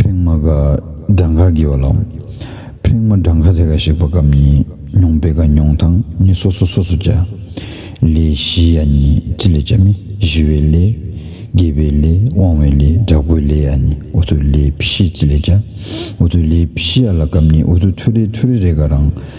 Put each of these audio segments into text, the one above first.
ཕྲེང་མ་ག་སྒྲ་འགའ་བགྱི་བ་ལའོ། ཕྲེང་མ་སྒྲ་འགའ་དེ་ག་ཞིག་པ་གམ་གཉིས་མྱོང་པའི་ག་མྱོང་དང་ནི་སོ་སོ་སོ་སོ་བྱ། ལས་བཞི་ཡ་ནི་ཅི་ལས་བྱ་མི་ཞི་བའི་ལས། དགེ་བའི་ལས་དབང་བའི་ལས་དྲག་པོའི་ལས་ཡ་ནི་འུ་ཐུག་ལས་བཞི་ཅི་ལས་བྱ། འུ་ཐུག་ལས་བཞི་ཡ་ལ་གམ་གཉིས་འུ་ཐུག་ཐུག་རེ་ཐུག་རེ་རེ་ག་རང།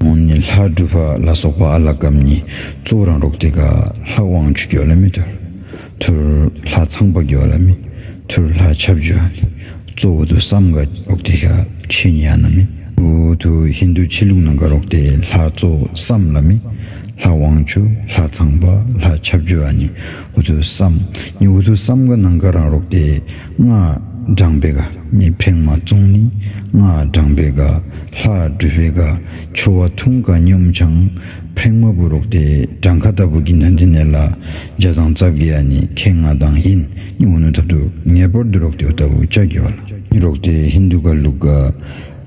འོང་ནི་ལྷ་སྒྲུབ་པ་ལ་སོགས་པ་ཨ་ལ་སྐབས་གཉིས་གཙོ་བོ་རང་རྟོགས་དེ་ཀ་ལྷ་དབང་ཆུ་སྐྱོ་ལ་མི་ཐུར། ཐུར་ལྷ་ཚངས་པ་སྐྱོ་ལ་མི་ཐུར་ལྷ་ཆབ་སྐྱོ་ནི་གཙོ་བོ་དུ་སམ་ཀ་རོག་དེ་ཀ་ཆེ་ཉ་ན་མི་བུ་དུ་ཧིན་དུ་ཆེ་ལུགས་ན་ཀ་རོག་དེ་ལྷ་གཙོ་བསམ་ལ་མི་ལྷ་དབང་ཆུ་ལྷ་ཚངས་པ་ལྷ་ཆབ་སྐྱོ་ནི་འུ་ཐུག་བསམ། ནི་འུ་ཐུག་བསམ་དགའ་སྣང་དགའ་རང་རོག་སྟེ། སྔགས་བགྲང་པའི་དགའ། མི་ཕེང་མ་བཙོང་ནི། སྔགས་བགྲང་པའི་དགའ། ལྷ་སྦྲུལ་པའི་དགའ། ཁྱོ་བ་འཐུང་དགའ་སྙོམས་བྱང། ཕེང་མ་བུ་རོག་སྟེ། བགྲང་ཁ་ལྟ་བུ་གྱི་མདོན་དེ་ནས་ལ། བརྒྱ་དང་རྩ་བརྒྱད་ཡ་ནི་ཁའི་ང་དང་ཧིན། ནི་འུ་ནུ་ཐབ་ཏུ། ངེས་པར་དུ་རོག་སྟེ་འུ་ལྟ་བུ་ལྕགས་ཀྱི་བ་ལ། ནི་རོག་སྟེ་ཧིན་དུ་དགའ་ལུག་དགའ།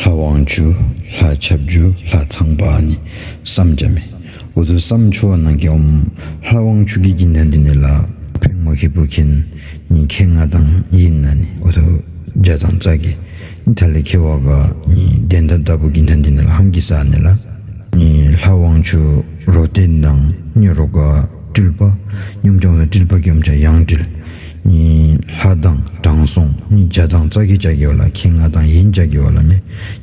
ལྷ་དབང་བཅུ། ལྷ་ཆབ་བཅུ་ལྷ་ཚངས་པ་ནི་བསམ་རྒྱ་མེད། འུ་ཚོའི་བསམ་ཆུ་བ་ནང་གི་འོམ། ལྷ་དབང་བཅུ་གྱི་ཀྱི་འདོན་འདི་ནི་ལ་ཕེང་མོ་ཁེ་པུ་ཁེན་ནི་མཁེ་ང་དང་ཡི་ན་ནི་འུ་ཐུ་རྒྱ་དང་ཙག་གི་ནི་ཐ་ལི་ཁེ་བ་ག་ནི་དེ་འདྲ་འདྲ་པོ་ཀྱི་འདོན་འདི་ནི་ལ་ཧམ་གྱི་ས་ནི་ལ་ནི་ལྷ་དབང་བཅུ་རོ་ཏེ་མདངས་སྙོད་རོ་ག་སྤྲུལ་པ་སྙོམས་སྐྱོང་ལ་སྤྲུལ་པ་སྐྱོམ་བྱ་ཡང་སྤྲུལ། གཉིས་ལྷ་དང་དྲང་སྲོང་ནི་བྱ་དང་རྩ་ཁྱི་བྱ་ཁྱི་བ་ལ་ཁྱི་ང་དང་ཡིན་བྱ་ཁྱི་བ་ལ་མེ་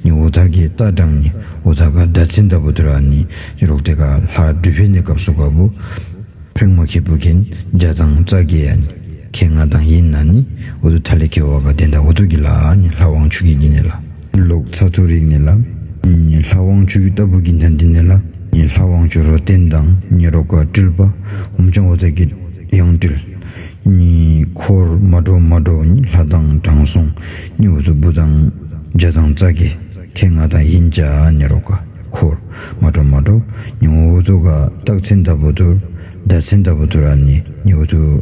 ནི་འུ་ཐག་ཁྱི་རྟ་དྲང་ནི་འུ་ཐག་ཁ་ཟླ་ཚི་འདབ་བུ་དུ་ར་ནི་ཁྱི་རོག་ཏི་ཁ་ལྷ་སྦྲུལ་བྷེ་ནི་སྐབས་སུ་ག་བུ་ཕིང་མོ་ཁྱི་བུ་ཁྱིན་བྱ་དང་རྩ་ཁྱི་ཡ་ནི་ཁྱི་ང་དང་ཡིན་ན་ནི་འུ་དུ་ཐ་ལི་ཁྱི་བ་ག་དེ་འདྲ་འུ་ཐུག་ཁྱི་ལ་ནི་ལྷ་དབང་ཕྱུག་ཁྱི་བགྱི་ནི་ལ། ལུག་ཚ་ཚུ་རིག་ནི་ལ་ཉི་ལྷ་དབང་ཕྱུག་ལྟ་བུ་གྱི་མཐའ་འདི་ནི་ལ་ཉི་ལྷ་དབང་ཕྱུག་རོ་བསྟན་དང་ཉི་རོ་ཀ་དྲིལ་པདྨ་འབྱུང་བ་བརྩེགས་ཀྱི་དབྱངས་དྲིལ། གཉིས་འཁོར་མ་འགྲོ་མ་འགྲོ་ཉི་ལྷ་དང་དྲང་སྲོང་གཉིས་འོ་ཚོད་འབུ་དང་རྗེ་དང་རྩ་དགེ་ཁྱེད་ང་དང་ཡིན་བཅའ་ཉི་རོ་ཀ་འཁོར་མ་འགྲོ་མ་འགྲོ་ཉི་འོ་ཚོད་ཀ་སྟག་མཚན་ལྟ་བུ་དུར་ཟླ་མཚན་ལྟ་བུ་དུར་ར་ནི་ཉི་འོ་ཚོད།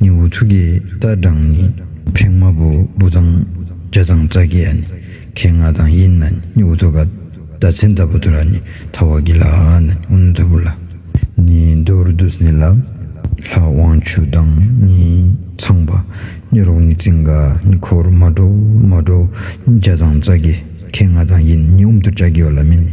ནི་འུ་ཐུག་གི་རྟ་སྦྲང་ནི་ཕྲེང་མ་བུ་བུ་དང་བརྒྱ་དང་རྩ་བརྒྱད་ཡ་ནི་གས་ང་དང་དབྱིན་ན་ནི་འུ་ཐུག་ག་ད་ཚན་ད་བུ་དུ་ར་ནི་ཐ་བ་གི་ལ་ཨ་ཨ་ན་ནི་འུ་ན་ད་བུ་ལ་ནི་འདོར་བདུད་ནི་ལ་ལྷ་དབང་ཕྱུག་དང་ནི་ཚངས་པ་ནི་རོག་ནི་ཙིང་ག་ནི་འཁོར་མ་འགྲོ་མ་འགྲོ་ནི་བརྒྱ་དང་རྩ་བརྒྱད་གས་ང་དང་དབྱིན་ནི་འུ་མཐུ་བྱ་གི་ཡོ་ལ་མི་ནི།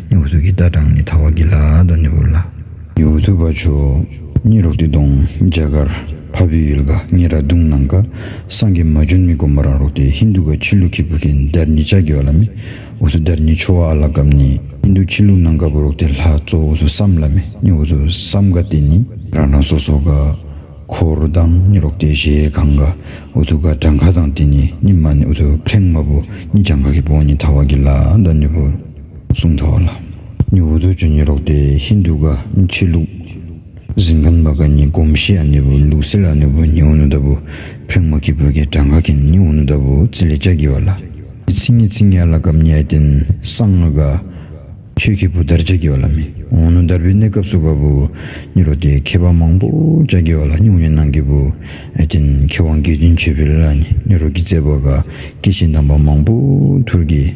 ཉོག་གཟུགས་ཀྱི་རྟ་དྲངས་ནས་ཐག་བ་གི་ལ་དོ་ནི་བུར་ལ། ཉོག་གཟུགས་པ་ཆོས་ཉིད་རོག་ཏི་གདོང་འཇའ་གར་བྷ་བུའི་ཡུལ་ག་ངེ་ར་དུང་ནང་ག་སངས་རྒྱས་མ་ཇོན་མི་དཀོན་པ་རང་རོག་ཏི་ཧིན་དུ་ག་ཁྱི་ལུ་ཁི་བུ་ཁིན་དར་ཉི་ཅག་གི་བ་ལ་མི་འུ་སུ་དར་ཉི་ཆོ་བ་ཨ་ལ་གབ་ནི་ཧིན་དུ་ཁྱི་ལུ་ནང་ག་བུ་རོག་ཏི་ལྷ་ཙོ་འུ་སུ་སམ་ལ་མི་ནི་འུ་སུ་སམ་ག་ཏི་ནི། རང་རང་སོ་སོ་ག་ཁོ་རུ་དང་ནི་རོག་ཏི་ཞེས་གང་ག་འུ་སུ་ག་དྲང་ག་དང་ཏི་ནི་ནི་མ་ནི་འུ་སུ་ཕྲེང་མ་བུ་ནི་ཅང་ག་གི་བོ་ནི་ཐག་བ་གི་ལ་དོ་ནི་བུར། གསུང་ཐོག་ལ། ཉི་འོད་ཟོ་ཆུ་ཉི་རོག་སྟེ་ཧིན་དུ་ཀ་འཆི་ལུགས། གཟིམ་ཁང་བ་ཀ་ཉི་གོམ་ཤི་ཨ་ནི་བུ་ལུགས་སི་ལ་ཨ་ནི་བུ་ཉི་འོ་ནུ་ད་བུ་ཕུད་མ་ཁི་བུ་ཁི་བྲ་ང་ཁི་ནི་འོ་ནུ་ད་བུ་ཙི་ལི་ཅག་གི་བ་ལ། མི་ཚི་ངི་ཚི་ངའི་ལ་གབ་ཉའི་རྟེན་སང་ང་ག། ཁྱོད་ཁི་བུ་དར་ཅག་གི་བ་ལ་མི་འོ་ནུ་དར་བུའི་གནས་སྐབས་སུ་ག་བུ་ཉི་རོ་སྟེ་མཁས་པ་མང་པོ་ཅག་གི་བ་ལ་སྙུག་ཉི་ནང་གི་བུ་ཨའི་རྟེན་མཁས་དབང་དགེ་འདུན་ཆོས་འཕེལ་ལ་ནི་ཉི་རོ་གི་རྩེ་བ་ག་སྐྱེས་ཆེན་དམ་པ་མང་པོ་ཐུར་གི།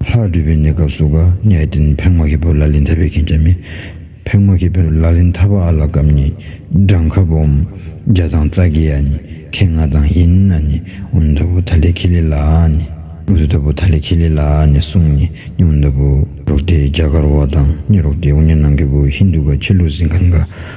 ལྷ་སྤྲུལ་པའི་གནས་སྐབས་སུ་དགའ་ཉེ་ཨེ་ཏིན་ཕེང་མ་ཧི་པོ་ལ་ལིན་ཐ་པའི་མཁན་ཆེན་མི། ཕེང་མ་ཧི་པོ་ལ་ལིན་ཐ་པ་ཨ་ལ་སྐབས་གཉིས་སྦྲང་ཁ་བུ་འམ་རྒྱ་དང་རྩ་དགེ་ཡ་ནི་ཁེ་ང་དང་ཧི་ན་ནི་འུན་ཐ་བུ་ཐ་ལི་ཁི་ལི་ལ་ཨ་ནི། འུ་ཐ་བུ་ཐ་ལི་ཁི་ལི་ལ་ཨ་ནི་སུང་ནི་ནི་འུན་ཐ་བུ། རོག་ཏི་རྒྱ་གར་བ་དང་ནི་རོག་ཏི་ཨུ་ནི་ནང་གི་བུ་ཧིན་དུ་ག་ཆི་ལུ་སིང་ག་ནག